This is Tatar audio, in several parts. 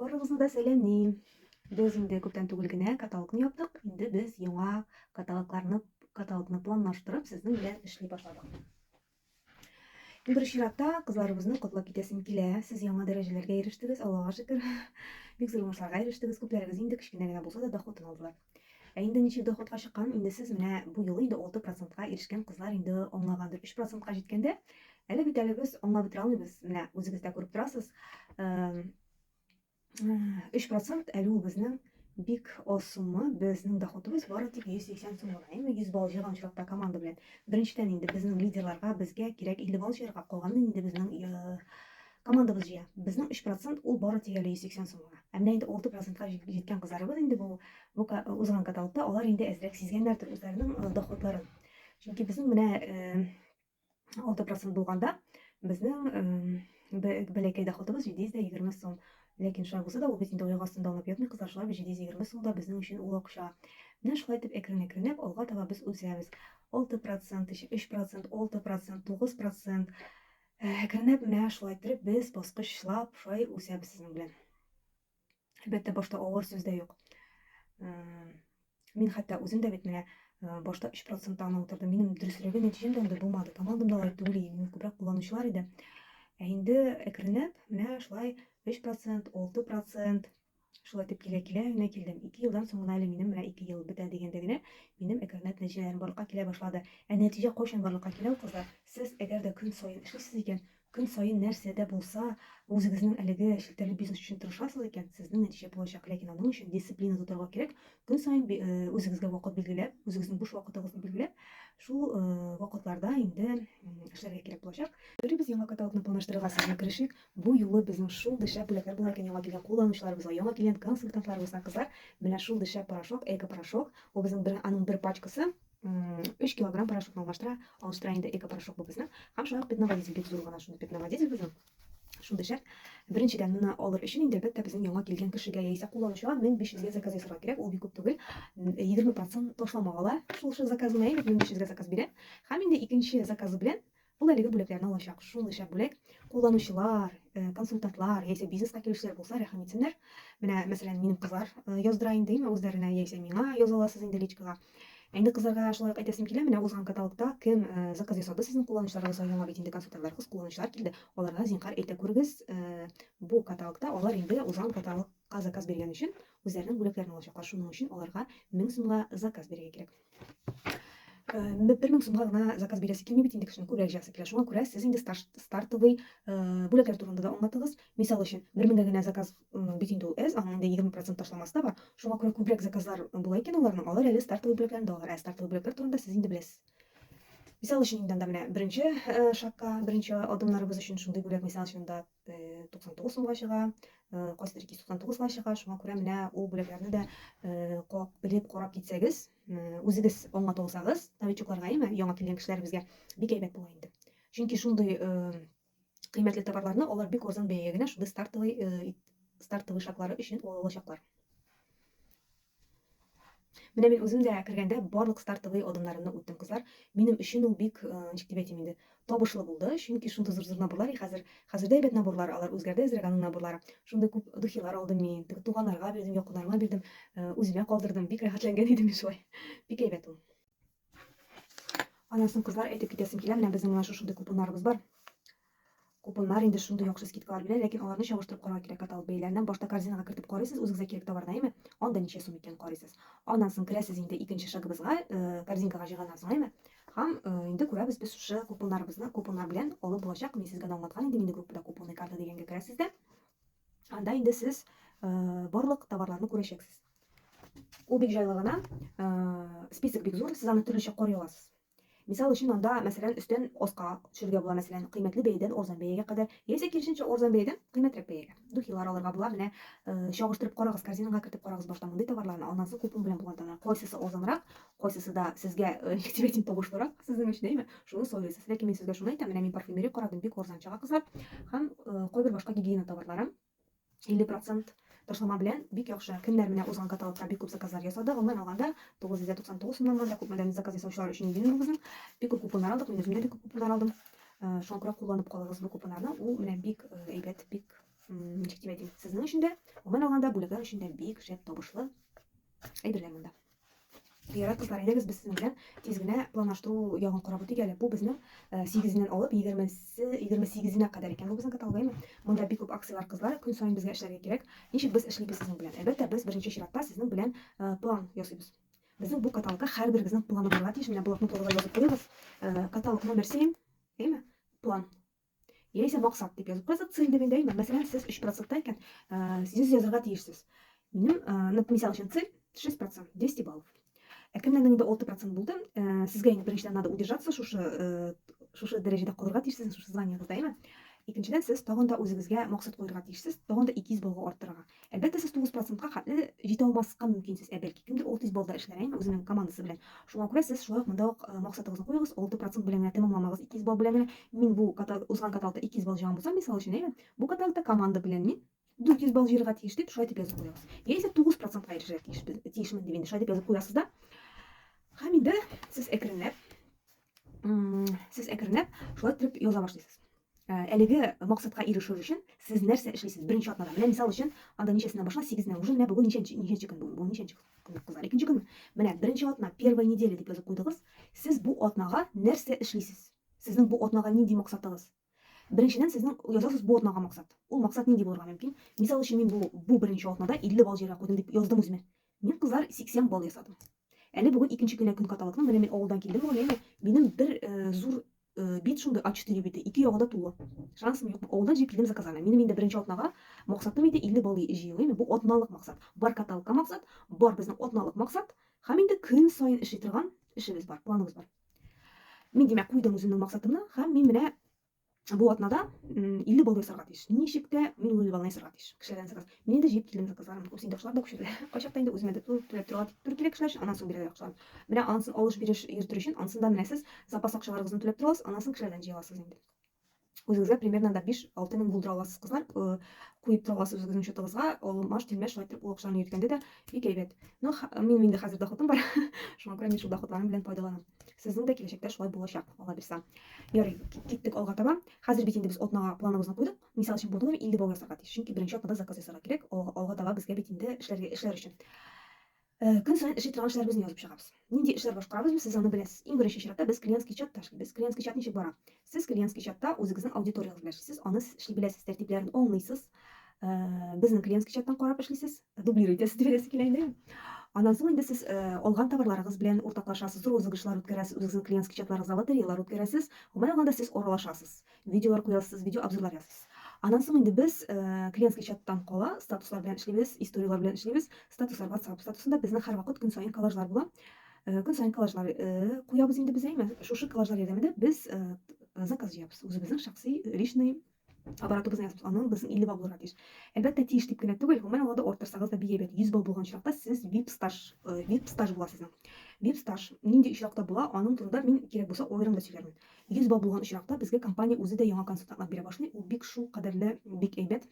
Барыгызны да сәламлим. Без инде күптән түгел генә каталогны яптык. Инде без яңа каталогларны, каталогны планлаштырып, сезнең белән эшли башладык. Иң беренче чиратта кызларыбызны котлап китәсем килә. Сез яңа дәрәҗәләргә ирештегез, Аллага шөкер. Бик зур уңышларга ирештегез. Күпләрегез инде кечкенә генә булса да доход алдылар. Ә инде ничек доходка чыкканын инде сез менә бу юлы инде алты процентка ирешкән кызлар инде аңлагандыр. Өч процентка җиткәндә, әле бит әле без аңлап бетерә алмыйбыз, менә үзегез дә күреп торасыз, өч процент әле ул безнең бик аз сумма, безнең доходыбыз бары тик 180 сум гына, әйме, 100 балл җыйган очракта команда белән. Беренчедән инде безнең лидерларга, безгә кирәк 50 балл җыярга, калганын инде безнең Командабыз җыя. Безнең өч процент ул бары тик әле 180 сум гына. Ә менә инде алты процентка җиткән кызларыбыз инде бу бу узган каталогта алар инде әзрәк сизгәннәрдер үзләренең доходларын. Чөнки безнең менә алты процент булганда безнең бәләкәй доходыбыз 720 сум. Ләкин шулай булса да ул бит инде аяк астында аунап ятмый кызлар, шулай бит 720 сум да безнең өчен ул акча. Менә шулай итеп әкрен-әкренләп алга таба без үсәбез. Алты процент, өч процент, алты процент, тугыз процент. Әкренләп менә шулай иттереп без баскычлап шулай үсәбез сезнең белән. Әлбәттә, башта авыр сүз дә юк. Мин хәтта үзем дә бит менә башта 3 процентта гына утырдым. Минем дөреслеге нәтиҗәм дә анда булмады. Командам да алай түгел, мине күбрәк кулланучылар иде. Ә инде әкренләп менә шулай 3 процент, 6 процент Шулай итеп килә-килә генә килдем. Ике елдан соң гына әле минем менә ике ел бетә дигәндә генә минем Әкәрнәт нәтиҗәләрем барлыкка килә башлады. Ә нәтиҗә кайчан барлыкка килә ул, кызлар? Сез әгәр дә көн саен эшлисез икән, көн саен нәрсә дә булса үзегезнең әлеге челтәрле бизнес өчен тырышасыз икән, сезнең нәтиҗә булачак. Ләкин аның өчен дисциплина тотарга кирәк, көн саен үзегезгә вакыт билгеләп, үзегезнең буш вакытыгызны билгеләп, шул вакытларда инде эшләргә кирәк булачак. Йөрибез яңа каталогны планлаштырырга сезне керешик. Бу юлы безнең шундый шәп бүләкләр була икән яңа килгән кулланучыларыбызга, яңа килгән консультантларыбызга, кызлар, менә шундый шәп порошок, Экопорошок, бу безнең бер, аның бер пачкасы, өч килограмм порошокны алмаштыра, алыштыра инде Экопорошок бу безнең, һәм шулай ук пятноводитель, бик зур гына шундый пятноводитель безнең, шундый шәп, беренчедән, моны алыр өчен инде, әлбәттә, безнең яңа килгән кешегә яисә кулланучыга 1500 гә заказ ясарга кирәк, ул бик күп түгел, 20 процент ташлама ала шул заказына, әйбәт, 1500 гә заказ бирә, һәм инде икенче заказы белән Ул әлеге бүләкләрне алачак. Шулайча бүләк кулланучылар, э, консультантлар яисә бизнеска килүчеләр булса, рәхим итсеннәр. Менә, мәсәлән, минем кызлар э, яздыра инде, әмма үзләренә яисә миңа яза аласыз инде личкага. Инде кызларга шулай ук әйтәсем килә, менә узган каталогта кем э, заказ ясады сезнең кулланучыларыгызга яңа бит инде консультантлар, кыз кулланучылар килде. Аларга зинхар әйтә күрегез, э, бу каталогта алар инде узган каталог Ка заказ биргән өчен үзләренең бүләкләрен алачаклар, шуның өчен аларга 1000 сумга заказ бирергә кирәк. Э, бер мең сумга гына заказ бирәсе килми бит инде кешенең күбрәк җыясы килә шуңа күрә сез инде стартовый э, бүләкләр турында да аңлатыгыз мисал өчен бер меңгә генә заказ бит инде ул әз аның инде егерме процент ташламасы да бар шуңа күрә күбрәк заказлар була икән аларның алар әле стартовый бүләкләрен дә алыр ә стартовый бүләкләр турында сез инде беләсез мисал өчен инде анда менә беренче э, шагка беренче адымнарыбыз өчен шундый бүләк мисал өчен анда 99 сумга чыга, кайсыдыр 299 га чыга, шуңа күрә менә ул бүләкләрне дә белеп карап китсәгез, үзегез алматы булсагыз, новичокларга яме, яңа килгән кешеләребезгә бик әйбәт була инде. Чөнки шундый кыйммәтле товарларны алар бик арзан бәягә генә шундый стартовый стартовый шартлары өчен ала алачаклар. Менә мин үзем дә кергәндә барлык стартовый адымнарымны үттем, кызлар. Минем өчен ул бик, э, ничек дип әйтим инде, табышлы булды, чөнки шундый зур-зур наборлар, и хәзер, хәзер дә әйбәт наборлар, алар үзгәрде әзрәк аның наборлары. Шундый күп духилар алдым мин, теге туганнарга бирдем, якыннарыма бирдем, э, үземә калдырдым, бик рәхәтләнгән идем мин шулай. Бик әйбәт ул. Аннан соң кызлар әйтеп китәсем килә, менә безнең менә шушындый купоннарыбыз бар. Купоннар инде шундый яхшы скидкалар бирә, ләкин аларны чагыштырып карарга кирәк каталог бәяләреннән. Башта корзинага кертеп карыйсыз, үзегезгә кирәк товарны, әйме? Анда ничә сум икән карыйсыз. Аннан соң керәсез инде икенче шагыбызга, э, корзинкага җыйганнан соң, әйме? Һәм э, инде күрәбез без шушы купоннарыбызны, купоннар белән алып булачак. Мин сезгә дә аңлаткан идем, инде группада купонный карта дигәнгә керәсез дә. Анда инде сез э, барлык товарларны күрәчәксез. Ул бик җайлы гына, список бик зур, сез аны төрлечә карый аласыз. Мисал өчен, анда, мәсәлән, өстен аска төшерергә була, мәсәлән, кыйммәтле бәядән арзан бәягә кадәр, яисә киресенчә, арзан бәядән кыйммәтрәк бәягә. Духилар алырга була, менә, чагыштырып карагыз, корзинага кертеп карагыз башта мондый товарларны, аннан соң купон белән булган товарлар, кайсысы арзанрак, кайсысы да сезгә, ничек әйтим, табышлырак сезнең өчен, әйме, шуны сайлыйсыз. Ләкин мин сезгә шуны әйтәм, менә мин парфюмерия карадым, бик арзан чыга, кызлар, һәм кайбер башка гигиена товарлары. 50 процент ташлама белән бик яхшы. Кемнәр менә узган каталогта бик күп заказлар ясады. Гомумән алганда 999 сумнан монда күпмедән заказ ясаучылар өчен идең безнең. Бик күп купоннар алдык, мин үзем дә бик күп купоннар алдым. Э, шуңа күрә кулланып калыгыз бу купоннарны. Ул менә бик э, әйбәт, бик ничек дип әйтим, сезнең өчен дә, гомумән алганда бүләкләр өчен дә бик шәп табышлы әйберләр монда. Ярат кызлар, әйдәгез без сезнең белән тиз генә планлаштыру ягын карап үтик әле. Бу безнең 8-ннән алып 20-се, 28-нә кадәр икән. Бу безнең каталогаймы? Монда бик күп акцияләр, кызлар, көн саен безгә эшләргә кирәк. Ничек без эшлибез сезнең белән? Әлбәттә, без беренче чиратта сезнең белән план ясыйбыз. Безнең бу каталогта һәрберегезнең планы булырга тиеш. Менә блокнотыгызга язып куегыз. Каталог номер 7, әйме? План. Яисә максат дип язып куясыз. Цель дигәндә әйтмә. Мәсәлән, сез 3% икән, 100 язарга тиешсез. Минем, мисал өчен, цель 6%, 200 баллов. Ә кемнәрнең инде 6% булды, сезгә инде беренчедән надо удержаться, шушы шушы дәрәҗәдә калырга тиешсез, шушы званиегызда, әйме? Икенчедән, сез тагын да үзегезгә максат куярга тиешсез, тагын да 200 баллга арттырырга. Әлбәттә, сез 9 процентка хәтле җитә алмаска мөмкин сез, ә бәлки кемдер ул тиз балда эшләр әйме үзенең командасы белән. Шуңа күрә сез шулай ук монда ук максатыгызны куегыз, 6 процент белән генә тәмамламагыз, 200 балл белән генә. Мин бу ката узган каталкта 200 балл җыйган булсам, мисал өчен, әйме, бу каталкта команда белән мин 400 балл җыерга тиеш дип, шулай дип язып куегыз. Яисә 9 процентка ирешергә тиешбез, тиешмен дип инде шулай дип язып куясыз да. Һәм инде сез әкренләп сез әкренләп шулай итеп яза башлыйсыз э, әлеге максатка ирешер өчен сез нәрсә эшлисез беренче атнада менә мисал өчен анда ничәсенә башла сигезнә уже менә бүген ничәнче ничәнче көн бүген бүген ничәнче көн кызлар икенче көнме менә беренче атна первая неделя дип язып куйдыгыз сез бу атнага нәрсә эшлисез сезнең бу атнага нинди максатыгыз Беренчедән, сезнең язасыз бу атнага максат. Ул максат нинди булырга мөмкин? Мисал өчен, мин бу бу беренче атнада 50 балл җыярга куйдым дип яздым үземә. Мин, кызлар, 80 балл ясадым. Әле бүген икенче көнә көн каталыкның, менә мин авылдан килдем бүген, әйме, минем бер зур бит шундый А4 бите, ике ягы да тулы. Шансым юк, авылдан җыеп килдем заказами. Минем инде беренче атнага максатым иде 50 балл җыю, әйме, бу атналык максат. Бар каталыкка максат, бар безнең атналык максат һәм инде көн саен эшли торган эшебез бар, планыбыз бар. Мин, димәк, куйдым үземнең максатымны һәм мин менә бу атнада 50 балл ясарга тиеш. Ничек тә мин ул 50 баллны ясарга тиеш. Кешеләрдән заказ. Мин инде җыеп килдем заказларым. Күп синдәшләр дә күчерде. Кайчакта инде үземә дә түләп торырга дип түр килә кешеләр өчен, аннан соң бирәләр акчаларын. Менә анысын алыш-биреш йөртер өчен, анысында менә сез запас акчаларыгызны түләп торасыз, аннан соң кешеләрдән җыя аласыз инде. Үзегезгә примерно да 5-6 мең булдыра аласыз, кызлар. Куеп тора аласыз үзегезнең счетыгызга. Алмаш, тилмәш шулай итеп ул акчаны йөткәнде дә бик әйбәт. Но минем инде хәзер доходым бар. Шуңа күрә мин шул доходларым белән файдаланам. Сезнең дә киләчәктә шулай булачак, Алла бирса. Ярый, киттек алга таба. Хәзер бит инде без атнага планыбызны куйдык. Мисал өчен, подуем 50 бау ясарга тиеш. Чөнки беренче атнада заказ ясарга кирәк. Алга таба безгә бит инде эшләргә, эшләр өчен. Көн саен эшли торган эшләребезне язып чыгабыз. Нинди эшләр башкарабызбыз, сез аны беләсез. Иң беренче чиратта без клиентский чатта эшлибез. Клиентский чат ничек бара? Сез клиентский чатта үзегезнең аудиториягез белән эшлисез, аны сез эшли беләсез, тәртипләрен аңлыйсыз. Безнең клиентский чаттан карап эшлисез, дублир итәсез дип әйтәсе килә инде. Аннан соң инде сез алган товарларыгыз белән уртаклашасыз, розыгрышлар үткәрәсез, үзегезнең клиентский чатларыгызда лотереялар үткәрәсез. Гомумән алганда, сез аралашасыз. Видеолар куясыз, видеообзорлар язасыз. Аннан соң инде без клиентский чаттан кала статуслар белән эшлибез, историяләр белән эшлибез. Статуслар WhatsApp статусында безнең һәрвакыт көн саен коллажлар була. Көн саен коллажлар куябыз инде без, әйме? Шушы коллажлар ярдәмендә без заказ җыябыз. Үзебезнең шәхси личный оборотыбызны язабыз. Аның безнең 50 бал булырга тиеш. Әлбәттә, тиеш дип кенә түгел, гомумән алганда арттырсагыз да бик әйбәт. 100 бал булган очракта сез VIP стаж, VIP стаж була сезнең. VIP стаж нинди очракта була, аның турында мин кирәк булса аерым да сөйләрмен. 100 балл булган очракта, безгә компания үзе дә яңа консультантлар бирә башлый, ул бик шул кадәрле бик әйбәт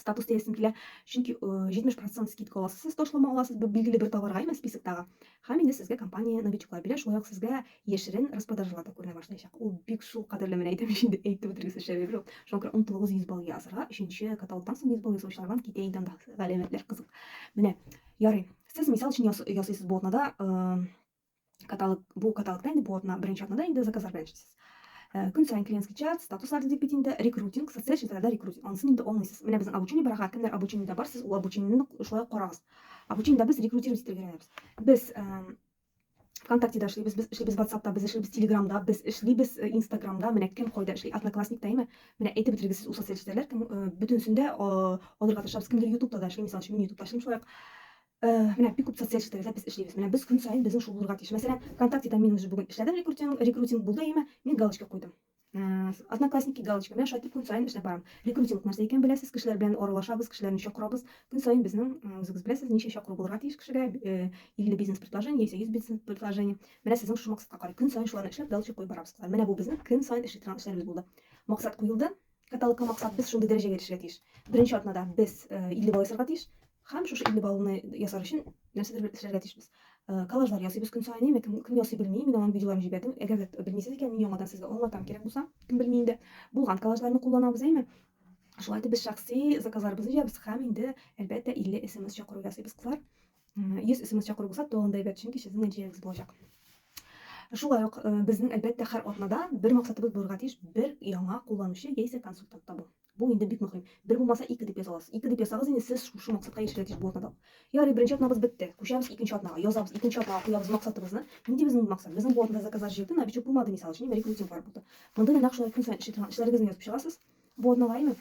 статус диясем килә, чөнки 70 процент скидка аласыз, сез ташлама аласыз, бу билгеле бер товарга имя списоктагы, һәм инде сезгә компания новичоклар бирә, шулай ук сезгә яшерен распродажалар да күренә башлаячак. Ул бик шул кадәрле, менә әйтәм ич инде, әйтеп бетергесез шәбәбе юк. Шуңа күрә онытылыгыз 100 балл язырга, өченче каталогтан соң 100 балл ясаучылардан китә инде андагы галәмәтләр кызык. Менә, ярый, сез мисал өчен ясыйсыз бу атнада каталог бу каталогта инде бу атна беренче атнада инде заказлар белән эшлисез э, көн сайын клиентский чат статуслар дип бит инде рекрутинг социаль челтәрләрдә рекрутинг анысын инде алмыйсыз менә безнең обучение барага кемнәр обучениедә барсыз ул обучениене шулай ук карагыз обучениедә без рекрутировать итәргә өйрәнәбез без э, вконтактеда эшлибез без эшлибез ватсапта без эшлибез телеграмда без эшлибез э, инстаграмда менә кем кайда эшли одноклассникта әйме менә әйтеп бетергез сез ул социаль челтәрләр кем бөтенесендә алырга тырышабыз кемдер ютубта да эшли мисал өчен мин ютубта эшлим шулай ук Менә бик күп социаль челтәрләрдә без эшлибез. Менә без көн саен безнең шул булырга тиеш. Мәсәлән, ВКонтактеда мин уже бүген эшләдем рекрутинг, рекрутинг булды өемә, мин галочка куйдым. Одноклассники галочка, менә шулай итеп көн саен эшләп барам. Рекрутинг нәрсә икәнен беләсез, кешеләр белән аралашабыз, кешеләрне чакырабыз. Көн саен безнең, үзегез беләсез, ничә чакыру булырга тиеш кешегә, 50 бизнес предложение яисә 100 бизнес предложение. Менә сезнең шушы максатка карый. Көн саен шуларны эшләп галочка куеп барабыз кызлар. Менә бу безнең көн саен эшли торган эшләребез булды. Максат куелды. Каталыкка максат без шундый дәрәҗәгә ирешергә тиеш. Беренче атнада без 50 бал ясарга тиеш. Хәм шушы 50 балны ясар өчен нәрсәдер бер эшләргә тиешбез. Коллажлар ясыйбыз көн саен, әмма кем, кем ясый белми, мин аның видеоларын җибәрдем. Әгәр дә белмисез икән, мин яңадан сезгә аңлатам кирәк булса, кем белми инде. Булган коллажларны кулланабыз, әйме? Шулай итеп без шәхси заказларыбызны җыябыз хәм инде, әлбәттә, 50 смс чакыру ясыйбыз, кызлар. 100 смс чакыру булса тагын да әйбәт, чөнки сезнең нәтиҗәгез булачак. Шулай ук э, безнең әлбәттә һәр атнада бер максатыбыз булырга тиеш, бер яңа кулланучы яисә консультант табу. Бу инде бик мөһим. Бер булмаса ике дип яза аласыз. Ике дип ясагыз инде сез шушы максатка ирешергә тиеш бу атнада. Ярый, беренче атнабыз бетте. Күчәбез икенче атнага, язабыз икенче атнага куябыз максатыбызны. Нинди безнең максат? Безнең бу атнада заказлар җыелды, новичок булмады мисал өчен, рекрутинглар булды. Монда да нәкъ шулай көн саен эшли торган эшләрегезне язып чыгасыз. Бу атнага, әйме?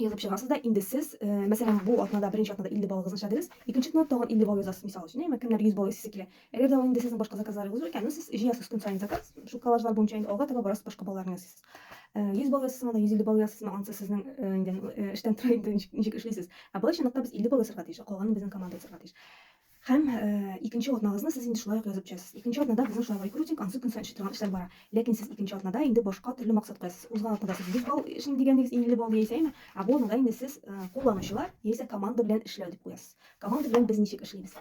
язып чыгасыз да инде сез э, мәсәлән бу атнада беренче атнада 50 баллыгызны эшләдегез икенче атнада тагын 50 балл язасыз мисал өчен әмма кемнәр 100 балл ясыйсы килә әгәр дә ул инде сезнең башка заказларыгыз икән ну сез җыясыз көн саен заказ шул коллажлар буенча инде алга таба барасыз башка балларны ясыйсыз 100 э, балл ясасызмы да 150 балл ясасызмы анысы сезнең э, инде эштән тора инде ничек эшлисез ә былай чынлыкта без 50 балл ясарга тиеш калганын безнең команда ясарга тиеш Һәм икенче атнагызны сез инде шулай ук язып төшәсез. Икенче атнада безнең шулай ук рекрутинг, ансы көн саен эшли торган эшләр бара. Ләкин сез икенче атнада инде башка төрле максат куясыз. Узган атнада сез 100 балл эшли дигәнегез, 50 балл яисә әйме, ә бу атнада инде сез кулланучылар яисә команда белән эшләү дип куясыз. Команда белән без ничек эшлибез?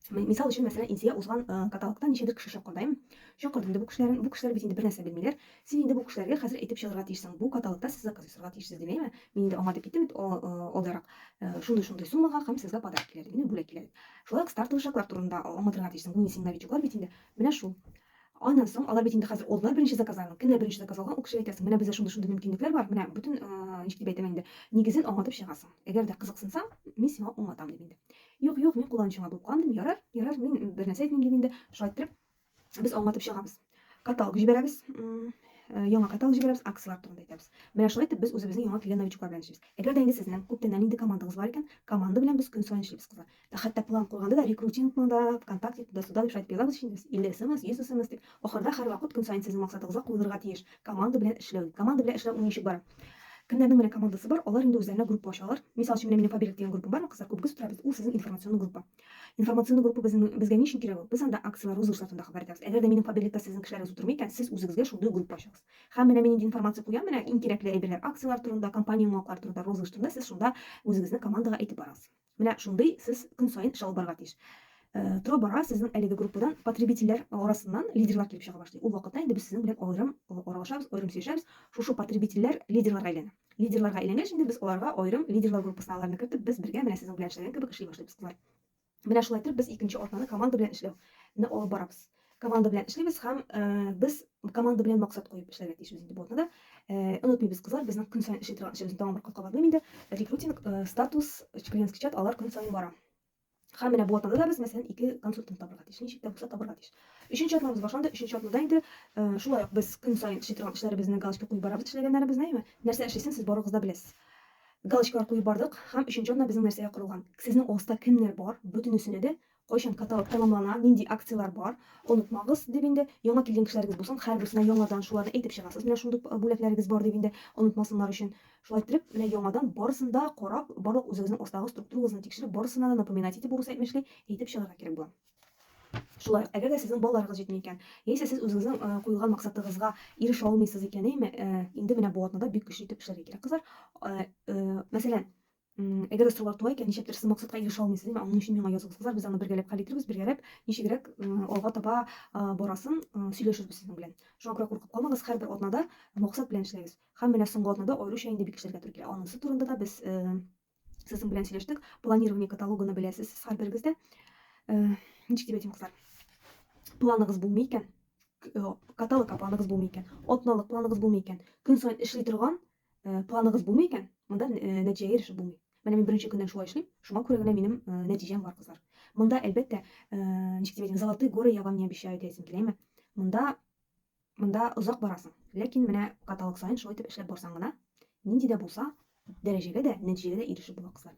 Мисал өчен, мәсәлән, Инсия узган каталогта ничәдер кеше чакырды, әйме? Чакырды инде бу кешеләрен. Бу кешеләр бит инде бернәрсә белмиләр. Син инде бу кешеләргә хәзер әйтеп чыгарга тиешсең, бу каталогта сез заказ ясарга тиешсез, дип әйме? Мин инде аңа дип әйттем бит алдарак, шундый-шундый суммага һәм сезгә подарок килә дип, менә бүләк килә дип. Шулай ук стартовый шаглар турында аңлатырга тиешсең, бу син новичоклар бит инде, менә шул. Аннан соң алар бит инде хәзер алдылар беренче заказларын, кемнәр беренче заказ алган, ул кешегә әйтәсең, менә бездә шундый-шундый мөмкинлекләр бар, менә бөтен, ничек дип әйтәм инде, нигезен аңлатып чыгасың. Әгәр дә кызыксынсаң, мин сиңа аңлатам, дип инде. Юк, юк, мин кулланучыңа булып калам, дим, ярар, ярар, мин бернәрсә әйтмим, дип инде, шулай иттереп, без аңлатып чыгабыз. Каталог җибәрәбез, э, яңа каталог җибәрәбез, акцияләр турында әйтәбез. Менә шулай итеп без үзебезнең яңа килгән новичоклар белән эшлибез. Әгәр дә инде сезнең күптәннән инде командагыз бар икән, команда белән без көн саен эшлибез кызлар. Ә хәтта план куйганда да рекрутингның да, ВКонтакте да суда дип шайтып язабыз инде без. 50 смс, 100 смс дип. Ахырда һәрвакыт көн саен сезнең максатыгызга куелырга тиеш. Команда белән эшләү. Команда белән эшләү ничек бара? Кемнәрнең менә командасы бар, алар инде үзләренә группа ачалар. Мисал өчен, менә минем Фаберик дигән группам бар, кызлар күбегез утырабыз, ул сезнең информационный группа. Информационный группа безнең безгә ни өчен кирәк ул? Без анда акцияләр, розыгышлар турында хәбәр итәбез. Әгәр дә минем кабинетта сезнең кешеләрегез утырмый икән, сез үзегезгә шундый группа ачыгыз. Һәм менә мин нинди информация куям, менә иң кирәкле әйберләр, акцияләр турында, компания яңалыклары турында, розыгыш турында сез шунда үзегезнең командага әйтеп барасыз. Менә шундый сез көн саен эш алып барырга тиеш. Тора-бара сезнең әлеге группадан потребительләр арасыннан лидерлар килеп чыга башлый. Ул вакытта инде без сезнең белән аерым аралашабыз, аерым сөйләшәбез. Шушы потребительләр лидерларга әйләнә. Лидерларга әйләнгәч инде без аларга аерым лидерлар группасына аларны кертеп, без бергә менә сезнең белән эшләгән кебек эшли башлыйбыз, кызлар. Менә шулай итеп без икенче атнаны команда белән эшләү не алып барабыз. Команда белән эшлибез һәм без команда белән максат куеп эшләргә тиешбез инде бу атнада. Онытмыйбыз, кызлар, безнең көн саен эшли торган эшебезне тагын бер кат кабатлыйм инде, рекрутинг, статус, чкленский чат, алар көн саен бара. Һәм менә бу атнада да без, мәсәлән, ике консультант табырга тиеш, ничек тә булса табырга тиеш. Өченче атнабыз башланды, өченче атнада инде э, шулай ук без көн саен эшли торган эшләребезне галочка куеп барабыз, эшләгәннәребезне, әйме? Нәрсә эшлисен, сез барыгыз да беләсез. Галочкалар куеп бардык һәм өченче атна безнең нәрсәгә корылган? Сезнең алыста кемнәр бар? Бөтенесенә дә кайчан каталог тәмамлана, нинди акцияләр бар, онытмагыз дип инде, яңа килгән кешеләрегез булсын, һәрберсенә яңадан шуларны әйтеп чыгасыз, менә шундый бүләкләрегез бар дип инде, онытмасыннар өчен. Шулай иттереп, менә яңадан барысын да карап, барлык үзегезнең астагы структурагызны тикшереп, барысына да напоминать итеп, урыс әйтмешли, әйтеп чыгарга кирәк була. Шулай ук, әгәр дә сезнең балаларыгыз җитми икән, яисә сез үзегезнең куелган максатыгызга ирешә алмыйсыз икән, әйме, инде менә бу атнада бик көчле итеп эшләргә кирәк, кызлар. Мәсәлән, Әгәр дә сораулар туа икән, ничектер сез максатка ирешә алмыйсыз, әмма аның өчен миңа языгыз. Кызлар, без аны бергәләп хәл итәрбез, бергәләп ничегрәк алга таба барасын сөйләшербез сезнең белән. Шуңа күрә куркып калмагыз, һәрбер атнада максат белән эшләгез. Һәм менә соңгы атнада аеруча инде бик эшләргә туры килә. Анысы турында да без сезнең белән сөйләштек. Планирование каталогыны беләсез сез һәрберегез дә. Ничек дип әйтим, кызлар? Планыгыз булмый икән, каталогка планыгыз булмый икән, атналык планыгыз булмый икән, көн саен эшли торган Э, планыгыз булмый икән, монда э, нәтиҗәгә ирешеп булмый. Менә мин беренче көннән шулай эшлим, шуңа күрә генә минем э, нәтиҗәм бар, кызлар. Монда, әлбәттә, ничек дип әйтим, золотые горы я вам не обещаю дип әйтсем киләме. Монда монда озак барасың. Ләкин менә каталог саен шулай итеп эшләп барсаң гына, нинди дә булса, дәрәҗәгә дә, нәтиҗәгә дә ирешеп була, кызлар.